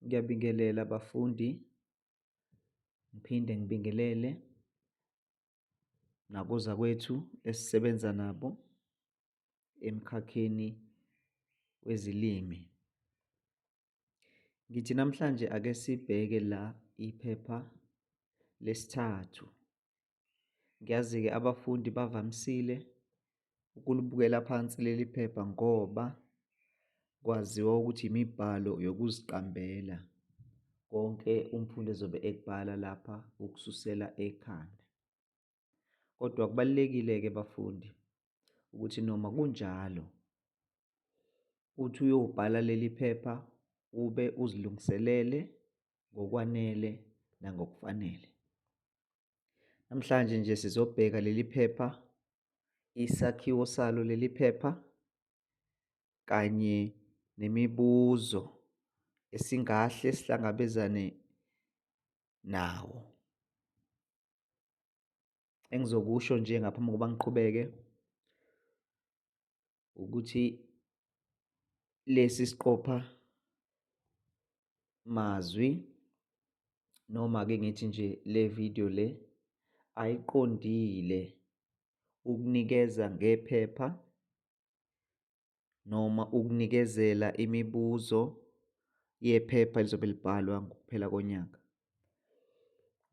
Ngiyabingelela bafundi, ngiphinde ngibingelele nakozakwethu esisebenza nabo emkhakheni wezilimi. Ngithi namhlanje ake sibheke la iphepha lesithathu Ngiyazi-ke abafundi bavamisile ukulibukela phansi leli phepha ngoba kwaziwa ukuthi imibhalo yokuziqambela konke umfundi ezobe ekubhala lapha ukususela ekhanda. Kodwa kubalulekile-ke bafundi ukuthi noma kunjalo uthi uyobhala leli phepha ube uzilungiselele ngokwanele nangokufanele. Namhlanje nje sizobheka leli phepha, isakhiwo salo leli phepha kanye nemibuzo esingahle sihlangabezane nawo. Engizokusho nje ngaphambi kokuba ngiqhubeke ukuthi lesi siqopha mazwi noma ke ngithi nje le video le ayiqondile ukunikeza ngephepha noma ukunikezela imibuzo yephepha elizobe libhalwa ngokuphela konyaka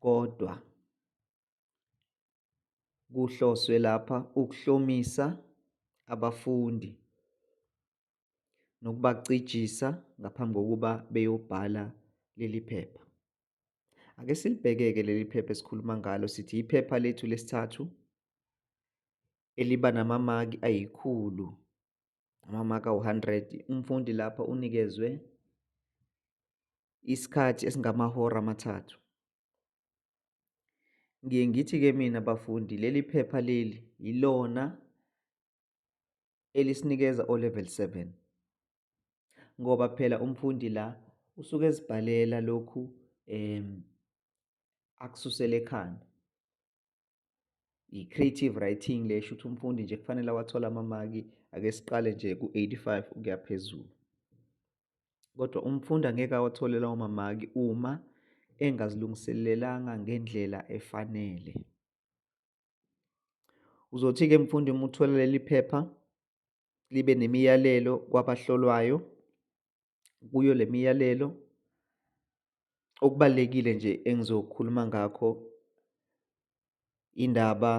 kodwa kuhloswe lapha ukuhlomisa abafundi nokubacijisa ngaphambi kokuba beyobhala leli phepha. Ake silibheke-ke leli phepha esikhuluma ngalo sithi iphepha lethu lesithathu eliba namamaki ayikhulu amamaki awu-100 umfundi lapha unikezwe isikhathi esingamahora amathathu Ngiye ngithi-ke mina bafundi leli phepha leli yilona elisinikeza o level 7 ngoba phela umfundi la usuke ezibhalela lokhu em akususela ekhanda. i-creative writing le sho ukuthi umfundi nje kufanele awathole amamaki ake siqale nje ku-85 ukuya phezulu kodwa umfundi angeke awathole lawo mamaki uma engazilungiselelanga ngendlela efanele uzothi-ke mfundi uma uthola leli phepha libe nemiyalelo kwabahlolwayo kuyo le miyalelo okubalulekile nje engizokhuluma ngakho indaba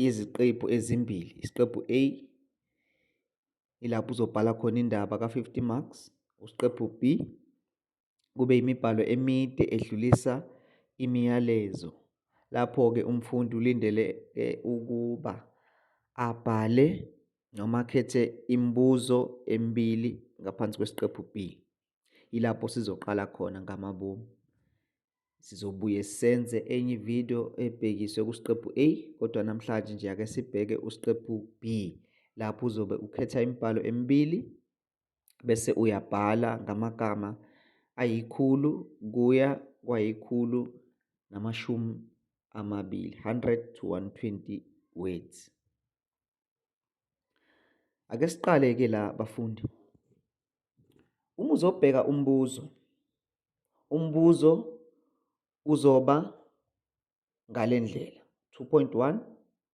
iziqephu ezimbili isiqephu A ilapho uzobhala khona indaba ka-50 marks usiqephu B kube imibhalo emide edlulisa imiyalezo. Lapho-ke umfundi ulindele ukuba abhale noma akhethe imibuzo emibili ngaphansi kwesiqephu B. Yilapho sizoqala khona ngamabomu. Sizobuye senze enye ividiyo ebhekiswe kusiqephu A kodwa namhlanje nje ake sibheke usiqephu B lapho uzobe ukhetha imibhalo emibili bese uyabhala ngamagama ayikhulu kuya kwayikhulu namashumi amabili 100 to 120 words ake siqale ke la bafundi uma uzobheka umbuzo umbuzo uzoba ngalendlela 2.1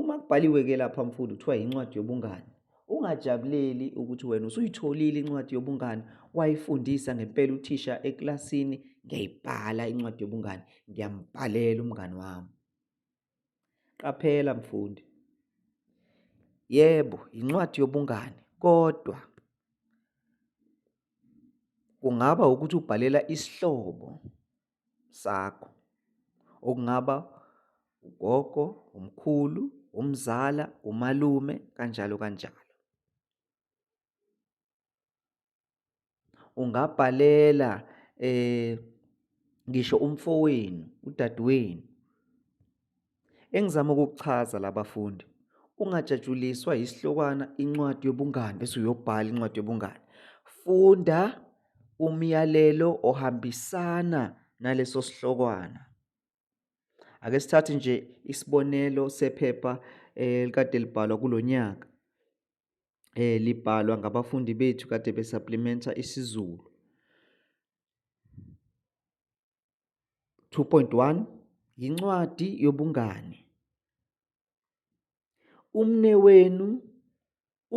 Uma kubhaliwe ke lapha mfundi kuthiwa incwadi yobungani. Ungajabuleli ukuthi wena usuyitholile incwadi yobungani wayifundisa ngempela uthisha eklasini ngiyayibhala incwadi yobungani ngiyambhalela umngani wami. Qaphela mfundi. Yebo, incwadi yobungani kodwa kungaba ukuthi ubhalela isihlobo sakho okungaba ugogo, umkhulu, umzala, umalume kanjalo kanjalo. Ungabhalela eh ngisho umfowenu, udadewenu Engizama ukukuchaza labafundi ungajatshuliswa isihlokwana incwadi yobungani bese uyobhala incwadi yobungani. Funda umyalelo ohambisana naleso sihlokwana. Ake sithathe nje isibonelo sephepha eh, likade libhalwa kulo nyaka. Eh libhalwa ngabafundi bethu kade besupplementa isiZulu. 2.1 Yincwadi yobungani. Umnewenu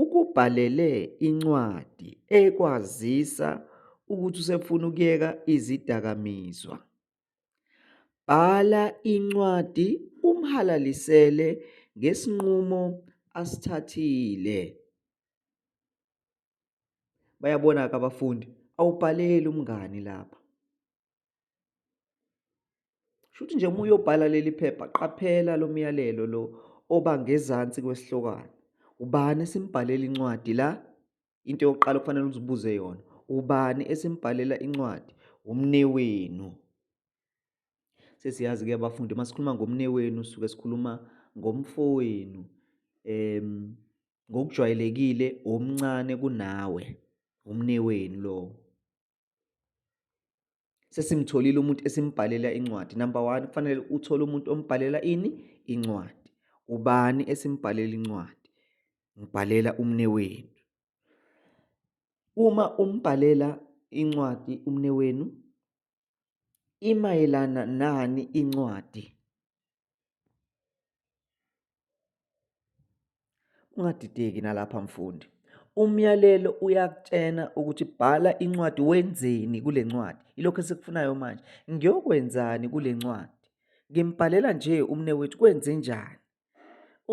ukubhalele incwadi ekwazisa ukuthi usefuna ukuyeka izidakamizwa. Bhala incwadi umhalalisele ngesinqumo asithathile. Bayabona-ke abafundi, awubhaleli umngani lapha. Shuthi nje uma uyobhala leli phepha, qaphela lo myalelo lo oba ngezansi kwesihlokwana. Ubani esimbhalela incwadi la? Into yokuqala okufanele uzibuze yona, ubani esimbhalela incwadi? Umnewenu. Sesiyazi-ke abafundi uma sikhuluma ngomnewenu suke sikhuluma ngomfowenu um ngokujwayelekile omncane kunawe umnewenu lowo sesimtholile umuntu esimbhalela incwadi number one kufanele uthole umuntu ombhalela ini incwadi ubani esimbhalela incwadi ngibhalela umnewenu uma umbhalela incwadi umnewenu imayelana nani incwadi ungadideki nalapha mfundi umyalelo uyakutshena ukuthi bhala incwadi wenzeni kule ncwadi ilokho esikufunayo manje ngiyokwenzani kule ncwadi ngimbhalela nje umne wethu kwenze njani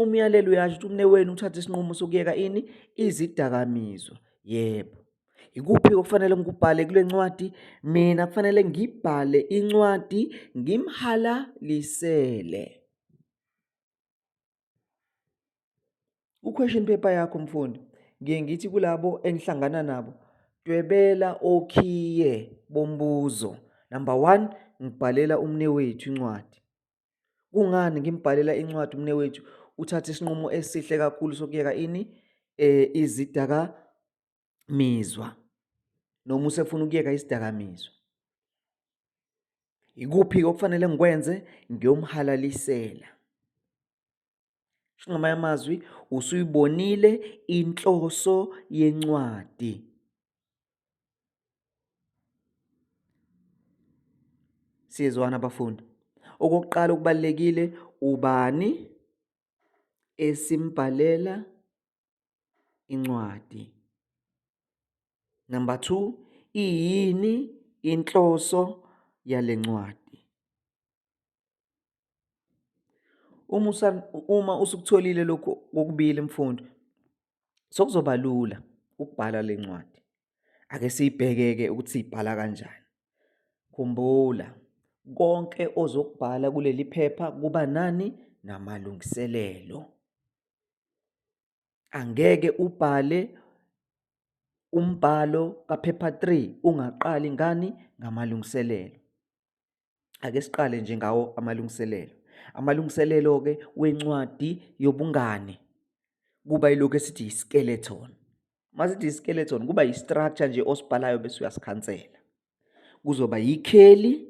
Umyalelo uyasho ukuthi umnewenu uthathe isinqumo sokuyeka ini izidakamizwa. Yebo. Ikuphi okufanele ngikubhale kule ncwadi? Mina kufanele ngibhale incwadi ngimhalalisele. Ku-question paper yakho mfundi, ngiye ngithi kulabo engihlangana nabo, dwebela okhiye bombuzo. Number one, ngibhalela umnewethu incwadi. Kungani ngimbhalela incwadi umnewethu uthathe isinqumo esihle kakhulu sokuyeka ini eh izidaka mizwa noma usefuna ukuyeka isidakamizwa ikuphi okufanele ngikwenze ngiyomhalalisela Sho ngamanye amazwi usuyibonile inhloso yencwadi. Siyezwana abafundi. Okokuqala okubalekile ubani esimbhalela incwadi. Number 2 iyini inhloso yalencwadi. Uma usa uma usukutholile lokhu kokubili mfundo sokuzoba lula ukubhala lencwadi. Ake siyibhekeke ukuthi siyibhala kanjani. Khumbula konke ozokubhala kuleli phepha kuba nani namalungiselelo. Angeke ubhale umbhalo kaphepha 3 ungaqali ngani ngamalungiselelo. Ake siqale nje ngawo amalungiselelo. Amalungiselelo-ke wencwadi yobungane kuba yilokhu esithi yi-skeleton. Uma sithi yi-skeleton kuba yi-structure nje osibhalayo bese uyasikhansela. Kuzoba yikheli,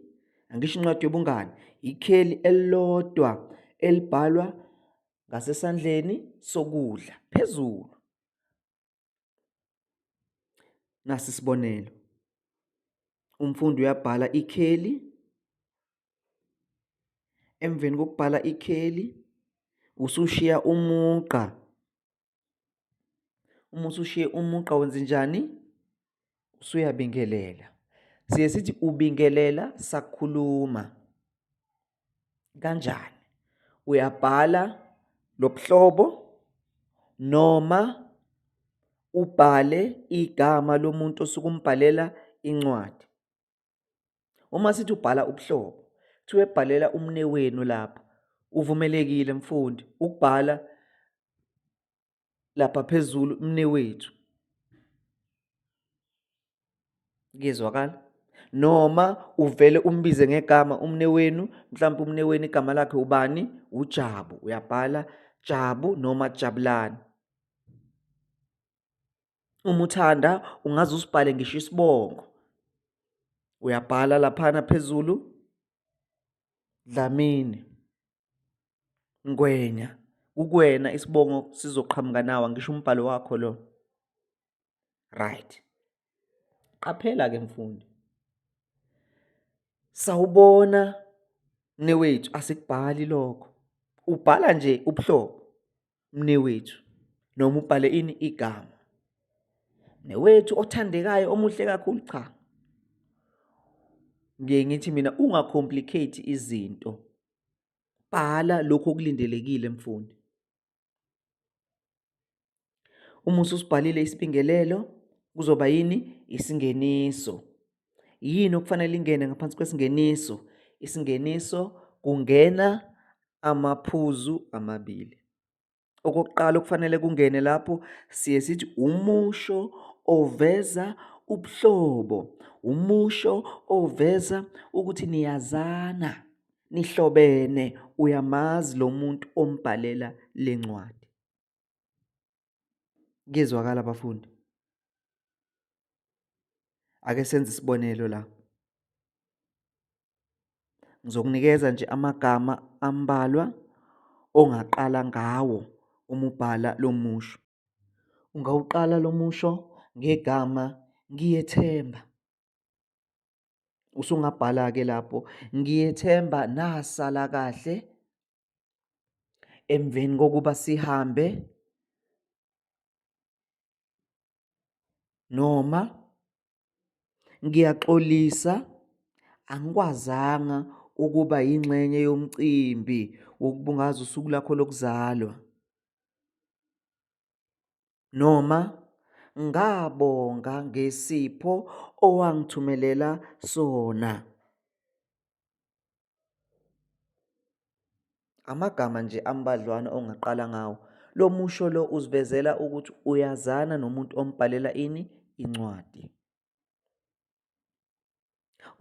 angisho incwadi yobungane, yikheli elilodwa elibhalwa ngasesandleni sokudla phezulu. Nasi isibonelo. Umfundi uyabhala ikheli. Emveni kokubhala ikheli usushiya umugqa. Uma usushiye umugqa wenze njani? Usuyabingelela. Siye sithi ubingelela sakhuluma. kanjani uyabhala lobuhlobo noma ubhale igama lomuntu osuke umbhalela incwadi uma sithi ubhala ubuhlobo kuthiwa ebhalela umne wenu lapha uvumelekile mfundi ukubhala lapha phezulu mnewethu kuyezwakala noma uvele umbize ngegama umne wenu mhlawumbe umne wenu igama lakhe ubani ujabu uyabhala jabu noma jabulani uma uthanda ungaze usibhale ngisho isibongo uyabhala laphana phezulu dlamini Ngwenya, kukuwena isibongo sizoqhamuka nawa ngisho umbhalo wakho lo. Right. Qaphela ke mfundi. Sawubona newethu asikubhali lokho. Ubhala nje ubuhlobo. mnewethu noma ubhale ini igama newethu othandekayo omuhle kakhulu cha ngiye ngithi mina ungacomplicate izinto bhala lokho okulindelekile mfundi uma usubhalile isibingelelo kuzoba yini isingeniso Yini okufanele ingene ngaphansi kwesingeniso? Isingeniso kungena amaphuzu amabili. Okokuqala okufanele kungene lapho siye sithi umusho oveza ubuhlobo, umusho oveza ukuthi niyazana, nihlobene, uyamazi lo muntu ombhalela le ncwadi. Kuyezwakala bafundi. Ake senze isibonelo la. Ngizokunikeza nje amagama ambalwa ongaqala ngawo uma ubhala lo musho. Ungawuqala lo musho ngegama ngiyethemba. Usungabhala-ke lapho ngiyethemba nasala kahle emveni kokuba sihambe noma ngiyaxolisa angikwazanga ukuba yingxenye yomcimbi wokubungaza usuku lakho lokuzalwa noma ngabonga ngesipho owangithumelela sona Amagama nje ambadlwana ongaqala ngawo. Lo musho lo usivezela ukuthi uyazana nomuntu ombhalela ini incwadi.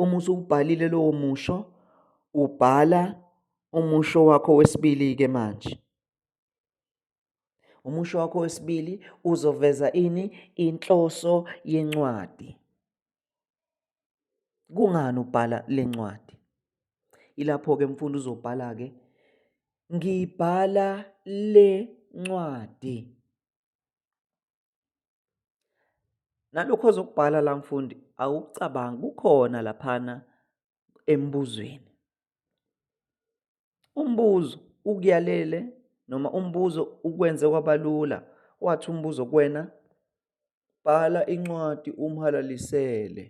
Uma usubhalile lowo musho ubhala umusho wakho wesibili ke manje. Umusho wakho wesibili uzoveza ini inhloso yencwadi. Kungani ubhala lencwadi? Ilapho ke mfundo uzobhala ke ngibhala lencwadi. Nalokho ozokubhala la mfundi awucabangi kukhona laphana embuzweni. Umbuzo ukuyalele noma umbuzo ukwenze kwabalula wathi umbuzo kuwena bhala incwadi umhalalisele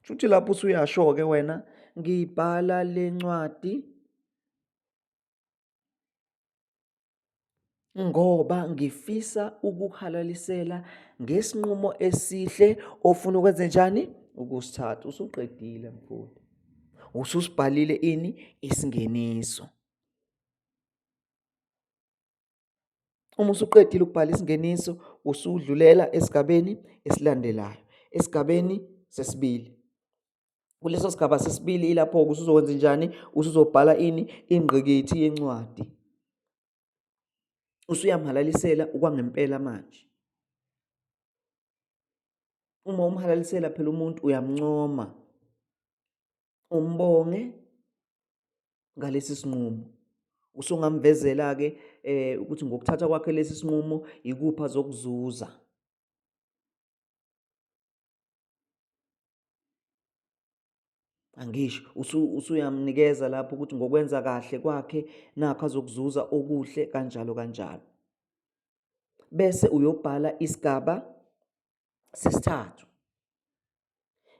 shuthi lapho usuyasho-ke wena ngibhala le ncwadi ngoba ngifisa ukuhalalisela ngesinqumo esihle ofuna ukwenze njani ukusithatha usuqedile mfundi ususibhalile ini isingeniso uma usuqedile ukubhala isingeniso usudlulela esigabeni esilandelayo esigabeni sesibili kuleso sigaba sesibili ilapho-ke usuzokwenza njani usuzobhala ini ingqikithi yencwadi usuyamhalalisela okwangempela manje uma umhalalisela phela umuntu uyamncoma umbonge ngalesi sinqumo usungamvezela-ke um eh, ukuthi ngokuthatha kwakhe lesi sinqumo yikuphi azokuzuza angisho usuyamnikeza lapho ukuthi ngokwenza kahle kwakhe nakho azokuzuza okuhle kanjalo kanjalo bese uyobhala isigaba sesithathu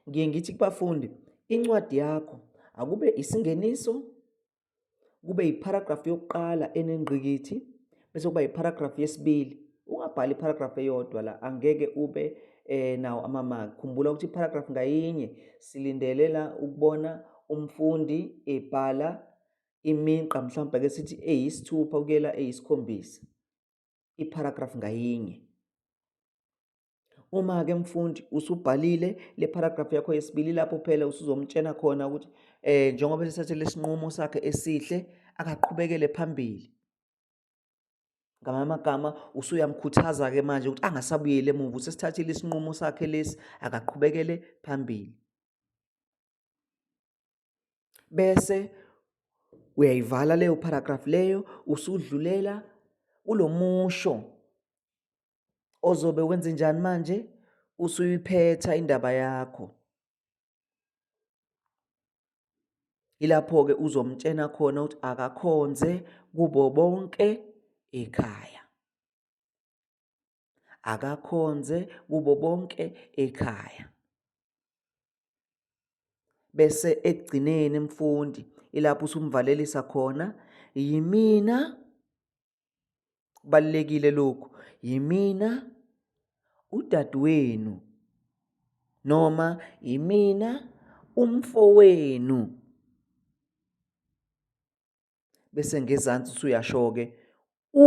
ngiye ngithi kubafundi incwadi yakho akube isingeniso kube yipharagrafu yokuqala enengqikithi bese kuba yipharagrafu yesibili ungabhali iparagrafu eyodwa la angeke ube eh nawo amamaki khumbula ukuthi iparagrafu ngayinye silindelela ukubona umfundi ebhala iminqa mhlawumbe ke sithi eyisithupha kuyela eyisikhombisa iparagrafu ngayinye Uma-ke mfundi usubhalile le paragraph yakho yesibili lapho phela usuzomtshena khona ukuthi um njengoba esethathele isinqumo sakhe esihle akaqhubekele phambili ngamanye amagama usuyamkhuthaza-ke manje ukuthi angasabuyeli emuva usesithathile isinqumo sakhe lesi akaqhubekele phambili bese uyayivala leyo paragraph leyo usudlulela kulo musho ozobe wenze njani manje usuyiphetha indaba yakho ilapho-ke uzomtshena khona ukuthi akakhonze kubo bonke ekhaya akakhonze kubo bonke ekhaya bese ekugcineni mfundi ilapho usumvalelisa khona yimina kubalekile lokhu yimina udadewenu noma yimina umfowenu bese ngezansi usuyasho-ke u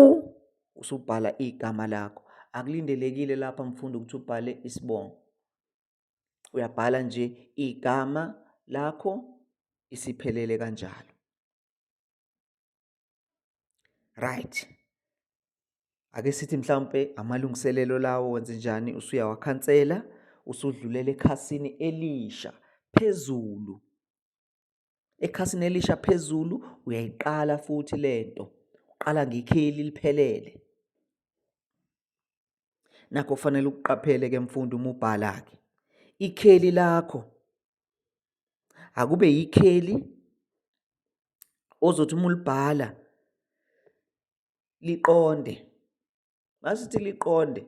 usubhala igama lakho akulindelekile lapha mfundo ukuthi ubhale isibongo uyabhala nje igama lakho isiphelele kanjalo right ake sithi mhlawumpe amalungiselelo lawo wenze njani usuyawakhansela usudlulela ekhasini elisha phezulu ekhasini elisha phezulu uyayiqala futhi lento uqala ngekheli liphelele nakho kufanele ukuqaphele ke mfundi uma ubhala ke ikheli lakho akube yikheli ozothi uma ulibhala liqonde masithi liqonde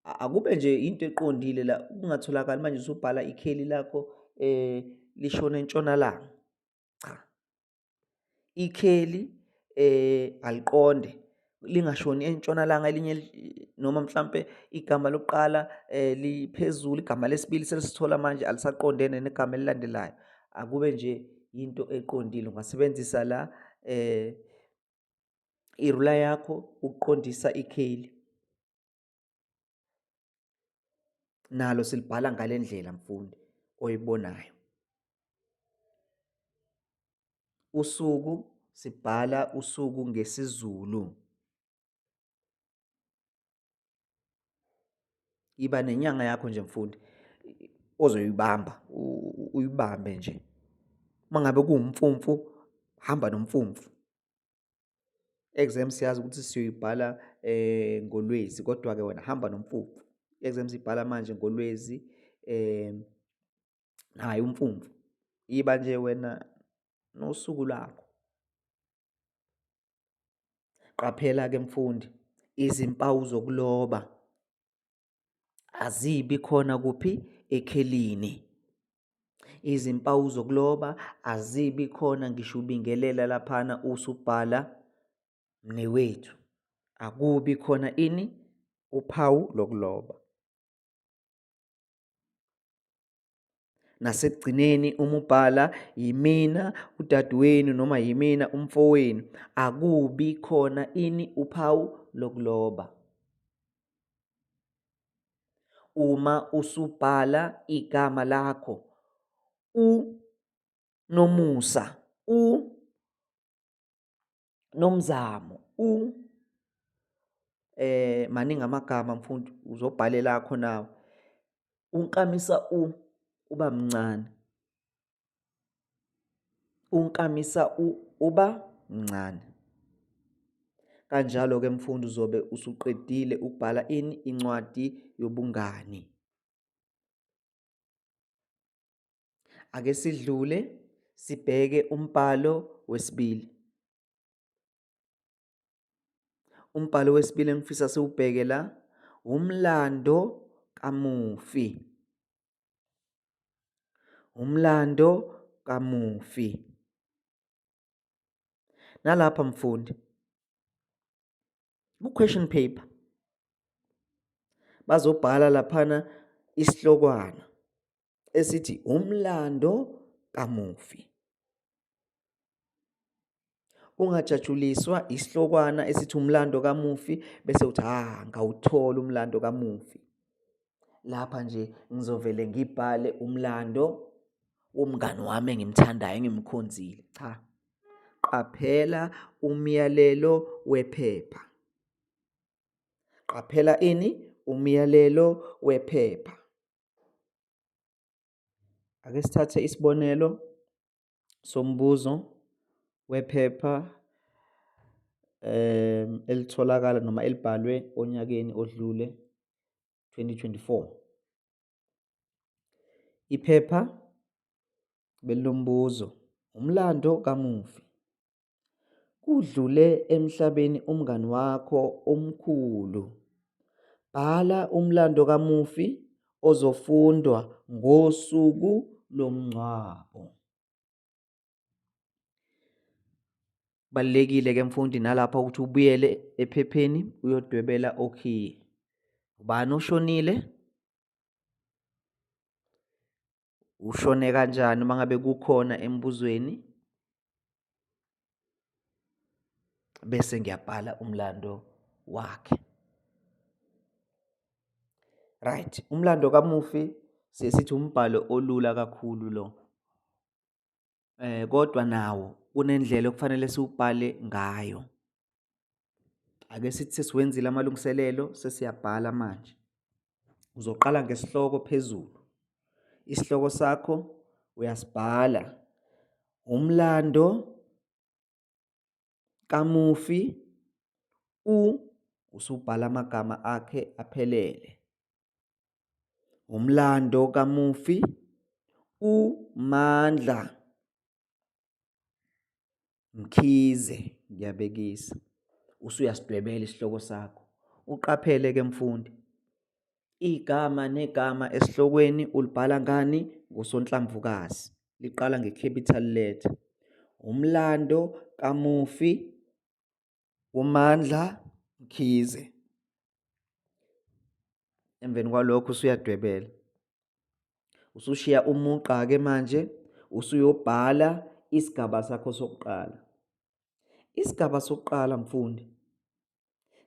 akube nje into eqondile la kungatholakali manje usubhala ikheli lakho eh lishona entshonalanga cha ikheli eh aliqonde lingashoni entshonalanga elinye noma mhlampe igama lokuqala eh liphezulu igama lesibili selisithola manje alisaqondene negama elilandelayo akube nje into eqondile ungasebenzisa la eh irula yakho ukuqondisa ikheli nalo silibhala ngalendlela mfundi oyibonayo usuku sibhala usuku ngesiZulu iba nenyanga yakho nje mfundi ozoyibamba uyibambe nje mangabe kuwumfumfu hamba nomfumfu Exam siyazi ukuthi siyoyibhala eh ngoLwezi kodwa ke wena hamba nomfumfu. Exam sibhala manje ngoLwezi eh hayi umfumfu. Iba nje wena nosuku lakho. Qaphela ke mfundi izimpawu zokuloba. azibi khona kuphi ekhelini izimpawu zokuloba azibi khona ngisho ubingelela laphana usubhala mnewethu akubi khona ini uphawu lokuloba Nasekugcineni uma ubhala yimina udadewenu noma yimina umfowenu akubi khona ini uphawu lokuloba. Uma usubhala igama lakho u nomusa u Nomzamo u eh maningi amagama mfundi uzobhalela akho nawe. Unkamisa u uba mncane. Unkamisa u uba mncane. Kanjalo ke mfundi uzobe usuqedile ukubhala ini incwadi yobungani. Ake sidlule sibheke umbhalo wesibili. Umbhalo wesibili engifisa siwubheke la umlando kamufi. Umlando kamufi. Nalapha mfundi ku-question paper bazobhala laphana isihlokwana esithi umlando kamufi ungajatshuliswa isihlokwana esithi umlando kamufi bese uthi ha ah, ngawuthola umlando kamufi lapha nje ngizovele ngibhale umlando womngani wami engimthandayo engimkhonzile cha Qaphela umyalelo wephepha. Qaphela ini? Umyalelo wephepha. Ake sithathe isibonelo sombuzo wephepha um elitholakala noma elibhalwe onyakeni odlule 2024. Iphepha belilombuzo, umlando kamufi. Kudlule emhlabeni umngani wakho omkhulu. Bhala umlando kamufi ozofundwa ngosuku lomngcwabo. Kubalulekile ke mfundi nalapha ukuthi ubuyele ephepheni uyodwebela okhiye. Ubani oshonile? Ushone kanjani uma ngabe kukhona embuzweni? Bese ngiyabhala umlando wakhe. Right, umlando kamufi sesithi umbhalo olula kakhulu lo. kodwa nawo kunendlela okufanele siwubhale ngayo. Ake sithi sesiwenzile amalungiselelo sesiyabhala manje. Uzoqala ngesihloko phezulu. Isihloko sakho uyasibhala. Umlando Kamufi, u usubhala amagama akhe aphelele. Umlando kamufi, u Mandla Mkhize, ngiyabekisa. Usuyasidwebela isihloko sakho. Uqaphele ke mfundi. Igama negama esihlokweni ulibhala ngani? Ngosonhlamvukazi. Liqala nge-capital letter. Umlando kamufi uMandla Mkhize. Emveni kwalokho usuyadwebela. Usushiya umugqa-ke manje, usuyobhala isigaba sakho sokuqala. Isigaba sokuqala mfundi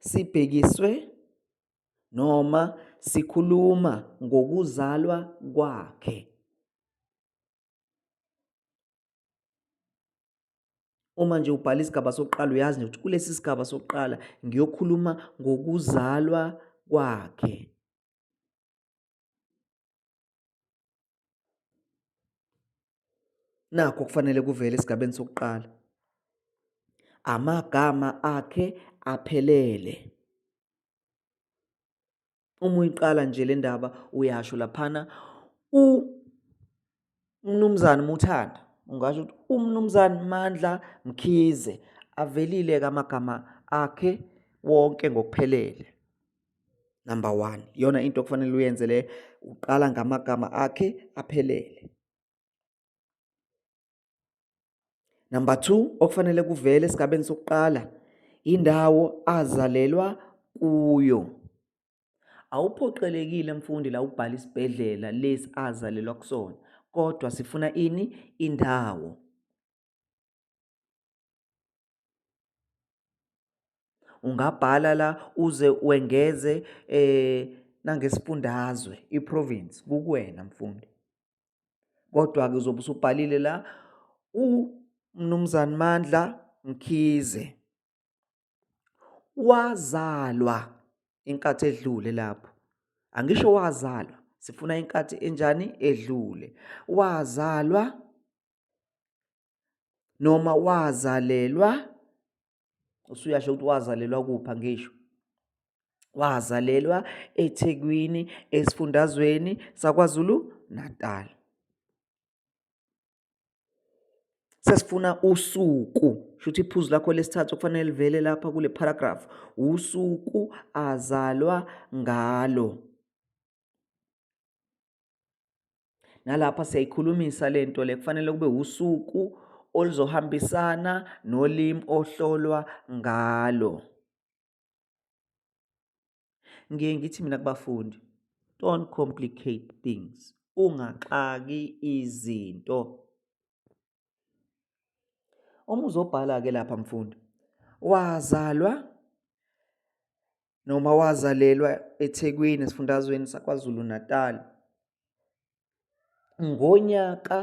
sibhekiswe noma sikhuluma ngokuzalwa kwakhe. Uma nje ubhala isigaba sokuqala uyazi nje ukuthi kulesi sigaba sokuqala ngiyokhuluma ngokuzalwa kwakhe. Nakho okufanele kuvele esigabeni sokuqala. Amagama akhe aphelele. Uma uyiqala nje le ndaba uyasho laphana u Mnumzane Muthanda ungasho ukuthi uMnumzane Mandla Mkhize avelile-ke amagama akhe wonke ngokuphelele. number one iyona into okufanele uyenze le uqala ngamagama akhe aphelele number two okufanele kuvele esigabeni sokuqala indawo azalelwa kuyo awuphoqelekile mfundi la ubhala isibhedlela lesi azalelwa kusona kodwa sifuna ini indawo ungabhala la uze wengeze eh nangesifundazwe iprovince kukuwena mfundi kodwa ke uzobe usubhalile la uMnumzane Mandla Mkhize wazalwa inkathi edlule lapho angisho wazalwa sifuna inkathi enjani edlule wazalwa noma wazalelwa usuyasho ukuthi wazalelwa kupha ngisho wazalelwa eThekwini esifundazweni sakwaZulu Natal sesifuna usuku shuthi iphuzu lakho lesithathu okufanele livele lapha kule paragraph usuku azalwa ngalo nalapha siyayikhulumisa le nto le kufanele kube usuku oluzohambisana nolimi ohlolwa ngalo ngiye ngithi mina kubafundi don't complicate things ungaxaki izinto Uma uzobhala-ke lapha mfundi, wazalwa noma wazalelwa eThekwini esifundazweni saKwaZulu-Natal ngonyaka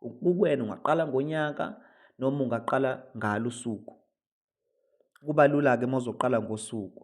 kukuwena ungaqala ngonyaka noma ungaqala ngalo usuku. Kuba lula-ke uma uzoqala ngosuku.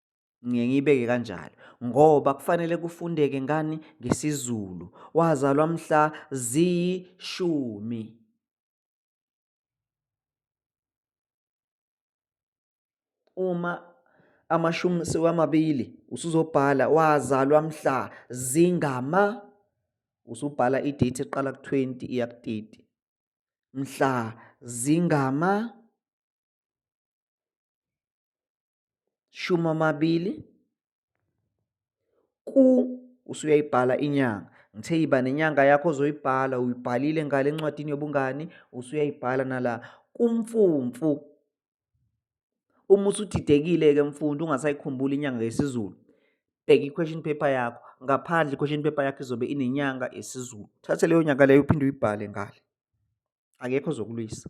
ngiye ngiyibeke kanjalo ngoba kufanele kufundeke ngani ngesiZulu wazalwa mhla ziyishumi uma amashumi sewamabili usuzobhala wazalwa mhla zingama usubhala i-date eqala ku-20 iya ku-30 mhla zingama shumi amabili ku usuyayibhala inyanga ngithe yiba nenyanga yakho ozoyibhala uyibhalile ngale encwadini yobungani usuyayibhala nala kumfumfu uma usudidekile-ke mfundi ungasayikhumbuli inyanga yesizulu bheka i-question paper yakho ngaphandle i-question paper yakho izobe inenyanga yesizulu thathe leyo nyanga leyo uphinde uyibhale ngale akekho ozokulwisa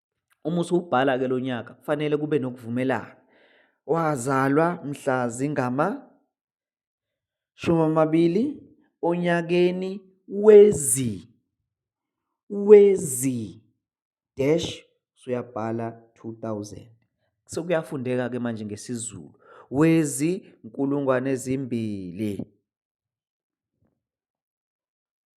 Uma usuwubhala-ke lo nyaka kufanele kube nokuvumelana. Wazalwa mhla zingama shumi amabili onyakeni wezi wezi dash usuyabhala 2000 sekuyafundeka ke manje ngesiZulu wezi nkulungwane ezimbili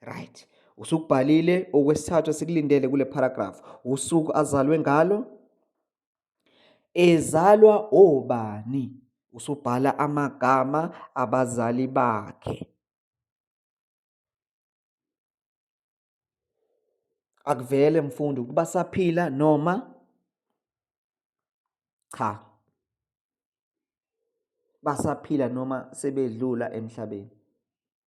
right usukubhalile okwesithathu esikulindele kule paragraph usuku azalwe ngalo ezalwa obani usubhala amagama abazali bakhe akuvele mfundi ukuba saphila noma cha basaphila noma sebedlula emhlabeni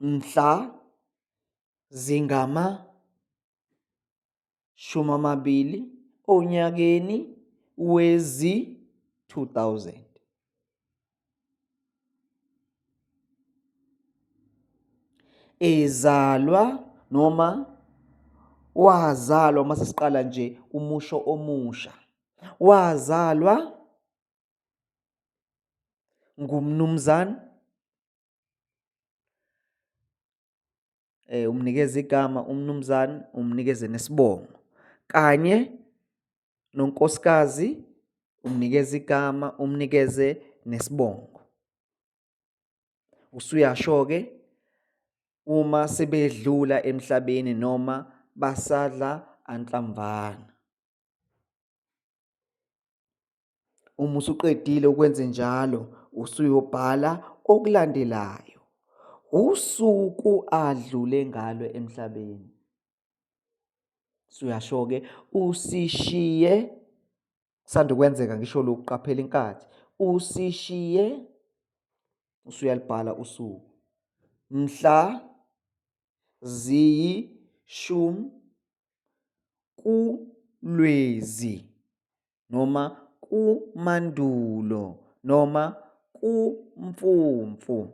mhla zingamashumi amabili onyakeni wezi-2000. Ezalwa noma wazalwa uma sesiqala nje umusho omusha wazalwa ngumnumzane eh umnikeza igama umnumzane umnikeze nesibongo kanye nonkosikazi umnikeza igama umnikeze nesibongo usuyasho ke uma sebedlula emhlabeni noma basadla anhlamvana Uma usuqedile ukwenze njalo, usuyobhala okulandelayo. Usuku adlule ngalo emhlabeni. Suyasho-ke usishiye sanda kwenzeka ngisho lokhu qaphela inkathi. Usishiye usuyalibhala usuku. Mhla ziyishumi kuLwezi. noma kumandulo noma kumfumfu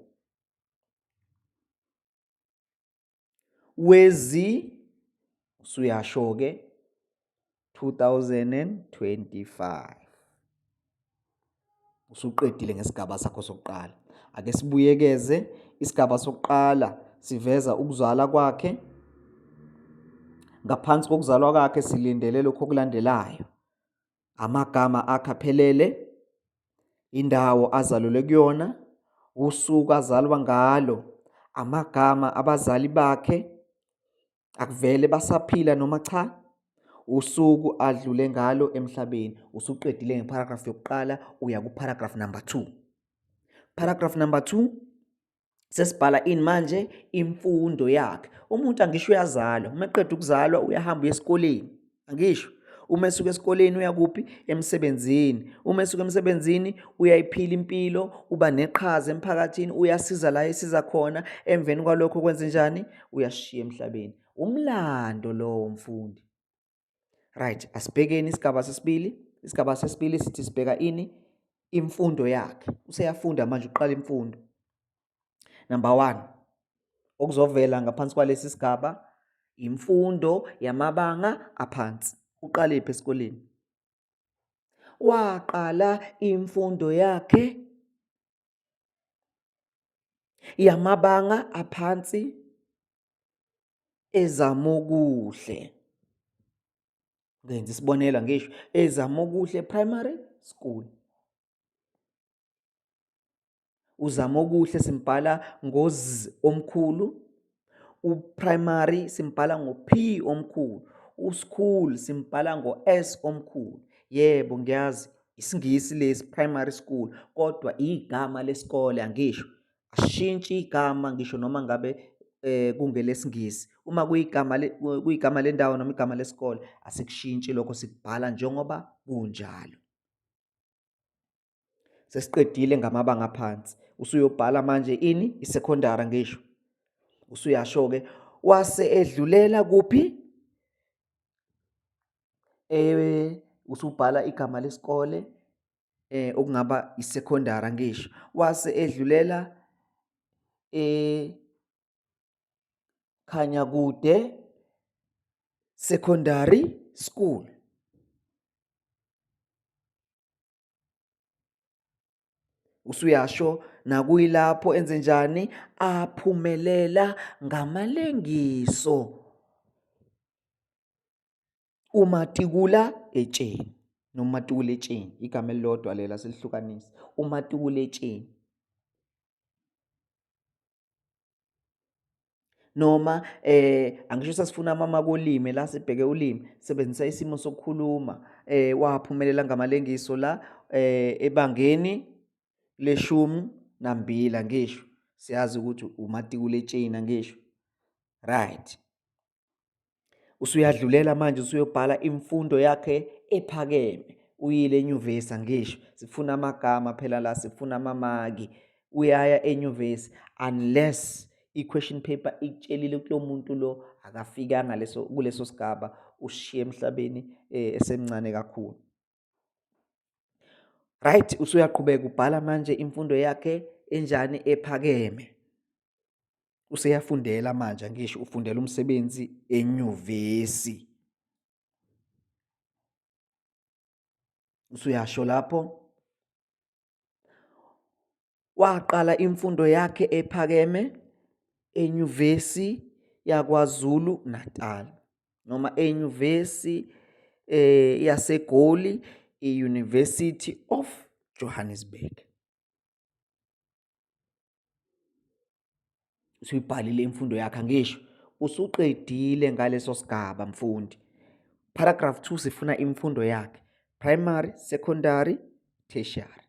wezi usuyasho ke 2025 usuqedile ngesigaba sakho sokuqala ake sibuyekeze isigaba sokuqala siveza ukuzala kwakhe ngaphansi kokuzalwa kwakhe silindele lokho okulandelayo amagama akhe aphelele indawo azalelwe kuyona usuku azalwa ngalo amagama abazali bakhe Akuvele basaphila noma cha? Usuku adlule ngalo emhlabeni. Usuqedile ngeparagraph yokuqala uya kuparagraph number 2. Paragraph number 2 sesibhala ini manje imfundo yakhe. Umuntu angisho uyazalwa, uma eqeda ukuzalwa uyahamba uye esikoleni. angisho uma esuka esikoleni uyakuphi emsebenzini uma esuka emsebenzini uyayiphila impilo uba neqhaza emphakathini uyasiza la esiza khona emveni kwalokho kwenze njani uyashiya emhlabeni umlando lowo mfundi right asibhekeni isigaba sesibili isigaba sesibili sithi sibheka ini imfundo yakhe useyafunda manje uqala imfundo Number one, okuzovela ngaphansi kwalesi sigaba imfundo yamabanga aphansi. Uqalephi esikoleni? Waqala imfundo yakhe yamabanga aphansi ezamokuhle. Ngenza isibonelo ngisho ezamokuhle primary school. uZamokuhle simbhala ngoz omkhulu uprimary simbhala ngo-p omkhulu uschool simbhala ngo-s omkhulu yebo ngiyazi isingisi lesi primary school kodwa igama lesikole angisho ashintshi igama ngisho noma ngabe eh kungelesingisi uma kuyigama kuyigama lendawo noma igama lesikole asikushintshi lokho sikubhala njengoba kunjalo sesiqedile ngamabanga aphansi usuyobhala manje ini isecondary ngisho usuyasho ke wase edlulela kuphi eh usubhala igama lesikole eh okungaba isecondary ngisho wase edlulela eh khanya kude secondary school usuyasho nakuyilapho enze njani aphumelela ngamalengiso umatikula etsheni noma matikula etsheni igama elilodwa lela silihlukanisa umatikula etsheni noma eh angisho sasifuna mama kolimi la sibheke ulimi sebenzisa isimo sokukhuluma eh waphumelela ngamalengiso la eh ebangeni leshumi nambila ngisho siyazi ukuthi umatikuletshina ngisho right usuyadlulela manje usuyobhala imfundo yakhe ephakeme uyile enyuvesi angisho sifuna amagama phela la sifuna amamaki uyaya enyuvesi unless i-question paper ikutshelile kulo muntu lo akafikanga leso kuleso sigaba ushiye emhlabeni eh, esemncane kakhulu right usuyaqhubeka ubhala manje imfundo yakhe enjani ephakeme useyafundela manje ngisho ufundela umsebenzi enyuvesi usuyasho lapho Waqala imfundo yakhe ephakeme eNyuvesi yaKwaZulu Natal noma eNyuvesi eh yaseGoli i-University of Johannesburg. usuyibhalile imfundo yakhe angisho usuqedile ngaleso sigaba mfundi paragraph 2 sifuna imfundo yakhe primary secondary tertiary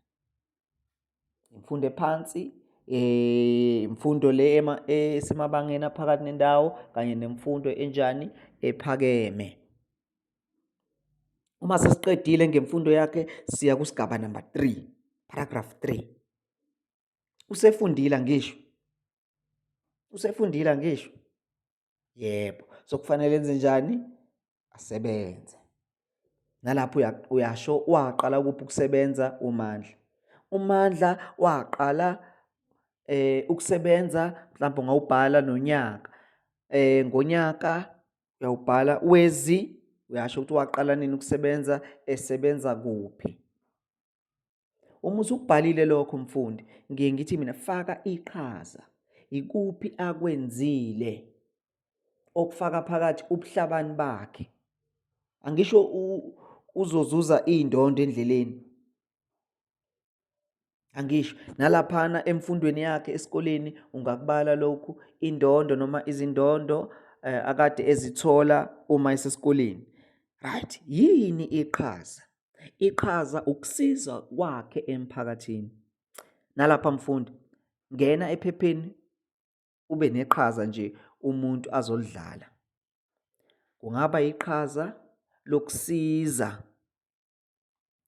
imfundo ephansi eh imfundo le esemabangeni aphakathi nendawo kanye nemfundo enjani ephakeme uma sesiqedile ngemfundo yakhe siya kusigaba number 3 paragraph 3 usefundile ngisho usefundile ngisho yebo so kufanele enze njani asebenze nalapho uyasho waqala kuphi ukusebenza umandla umandla waqala eh ukusebenza mhlawumbe ngawubhala nonyaka eh ngonyaka uyawubhala wezi uyasho ukuthi waqala nini ukusebenza esebenza kuphi Uma usukubhalile lokho mfundi, ngiye ngithi mina faka iqhaza. Ikuphi akwenzile okufaka phakathi ubuhlabani bakhe? Angisho uzozuza iy'ndondo endleleni. Angisho nalaphana emfundweni yakhe esikoleni ungakubala lokhu indondo noma izindondo eh, akade ezithola uma esesikoleni. Right, yini iqhaza? Iqhaza ukusiza kwakhe emphakathini. Nalapha mfundi, ngena ephepheni ube neqhaza nje umuntu azolidlala. Kungaba iqhaza lokusiza.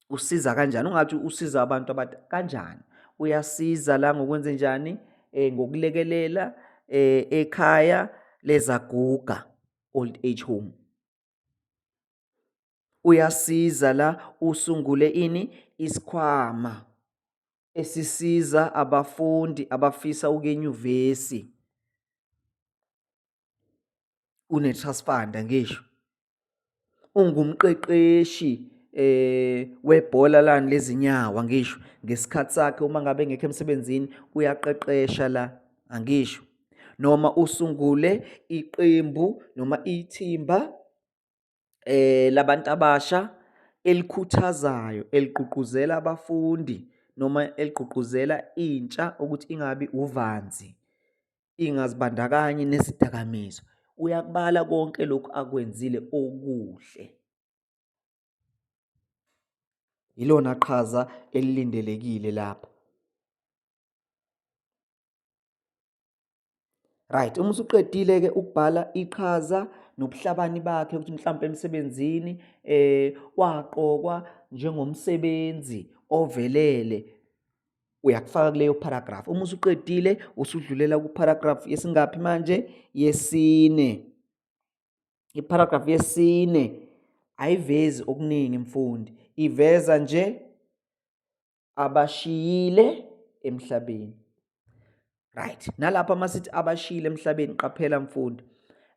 Usiza kanjani? Ungathi usiza abantu abathi kanjani? Uyasiza la ngokwenze njani? Eh, ngokulekelela eh, ekhaya lezaguga, old age home. uyasiza la usungule ini isikhwama esisiza abafundi abafisa ukuyenyuvesi une-trust fund ngisho ungumqeqeshi eh webhola lani lezinyawo angisho ngesikhathi sakhe uma ngabe ngekho emsebenzini uyaqeqesha la angisho noma usungule iqembu noma ithimba eh labantu abasha elikhuthazayo eligqugquzela abafundi noma eligqugquzela intsha ukuthi ingabi uvanzi ingazibandakanyi nezidakamizwa uyakubala konke lokhu akwenzile okuhle yilona qhaza elilindelekile lapha Right, uma usuqedile ke ukubhala iqhaza nobuhlabani bakhe ukuthi mhlawumbe emsebenzini eh waqokwa njengomsebenzi ovelele uyakufaka kuleyo paragraph. Uma usuqedile usudlulela ku paragraph yesingaphi manje yesine. I paragraph yesine ayivezi okuningi mfundi, iveza nje abashiyile emhlabeni right nalapha masithi abashiyile emhlabeni qaphela mfundi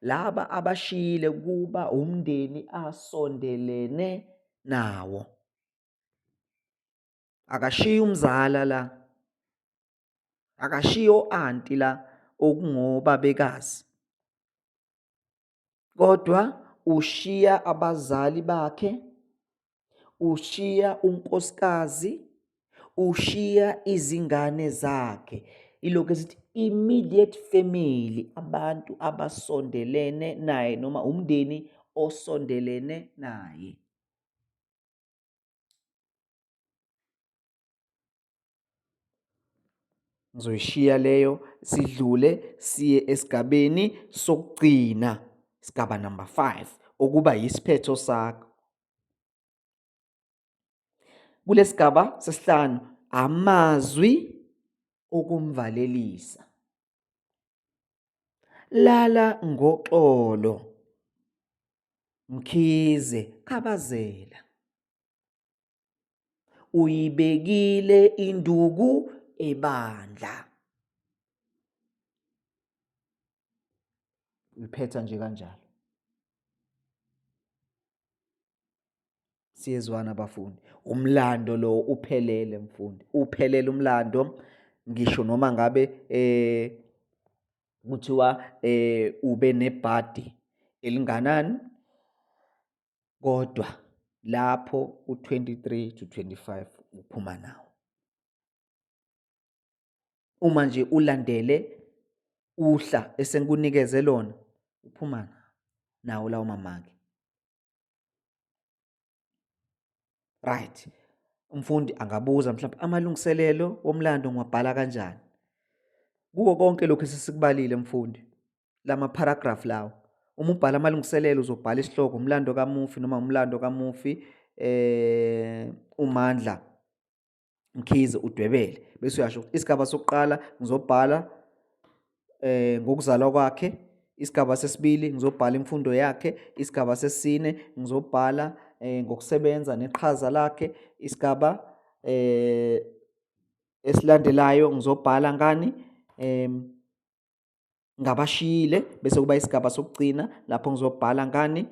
laba abashiyile kuba umndeni asondelene nawo akashiya umzala la akashiya oanti la okungobabekazi kodwa ushiya abazali bakhe ushiya unkosikazi ushiya izingane zakhe ilokhu esithi immediate family abantu abasondelene naye noma umndeni osondelene naye Ngizoyishiya leyo sidlule siye esigabeni sokugcina sigaba number 5 okuba yisiphetho sakho. Kulesigaba sesihlanu amazwi okumvalelisa. Lala ngoxolo. Mkhize khabazela. uyibekile induku ebandla liphetha nje kanjalo siyezwana bafundi umlando lo uphelele mfundi uphelele umlando ngisho noma ngabe eh kuthiwa eh ube nebhadi elinganani kodwa lapho u-23 to 25 uphuma nawo uma nje ulandele uhla esengikunikeze lona uphuma nawo lawo mamaki right umfundi angabuza mhlawumbe amalungiselelo womlando ngiwabhala kanjani kuko konke lokhu esesikubalile mfundi lama paragraph lawo uma ubhala amalungiselelo uzobhala isihloko umlando kamufi noma umlando kamufi eh umandla mkhize udwebele bese uyasho isigaba sokuqala ngizobhala eh ngokuzalwa kwakhe isigaba sesibili ngizobhala imfundo yakhe isigaba sesine ngizobhala eh ngokusebenza neqhaza lakhe isigaba eh esilandelayo ngizobhala ngani em ngabashiyile bese kuba isigaba sokugcina lapho ngizobhala ngani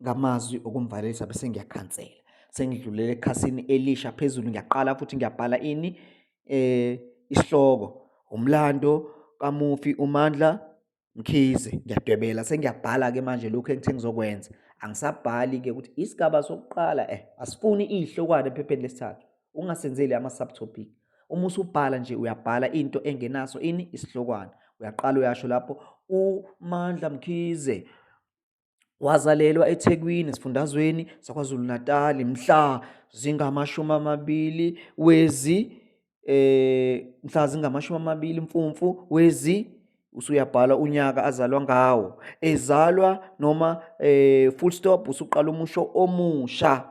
ngamazwi okumvalelisa bese ngiyakhansela sengidlulele ekhasini elisha phezulu ngiyaqala futhi ngiyabhala ini eh isihloko umlando kamufi uMandla Mkhize ngiyadwebela sengiyabhala ke manje lokho engithe ngizokwenza angisabhali ke ukuthi isigaba sokuqala eh asifuni izihlokwane ephepheni lesithathu ungasenzeli ama-subtopic uma usubhala nje uyabhala into engenaso ini isihlokwana uyaqala uyasho lapho umandla mkhize wazalelwa ethekwini esifundazweni sakwazulu-natali mhla zingamashumi amabili wezi eh mhla zingamashumi amabili mfumfu wezi usuyabhala unyaka azalwa ngawo ezalwa noma eh full stop usuqala umusho omusha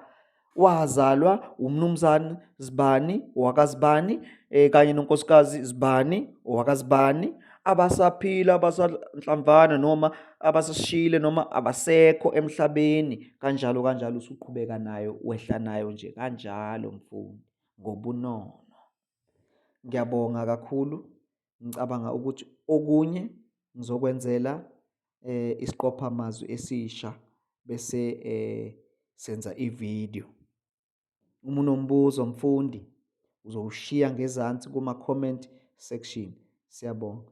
wazalwa umnumzane Zibani wakazibani eh, kanye nonkosikazi Zibani wakazibani abasaphila abasanhlamvana noma abasashile noma abasekho emhlabeni kanjalo kanjalo usuqhubeka nayo wehla nayo nje kanjalo mfundi ngobunono ngiyabonga kakhulu ngicabanga ukuthi okunye ngizokwenzela eh isiqopha amazwi esisha bese eh senza ivideo uma unombuzo mfundi uzowushiya ngezansi kuma comment section siyabonga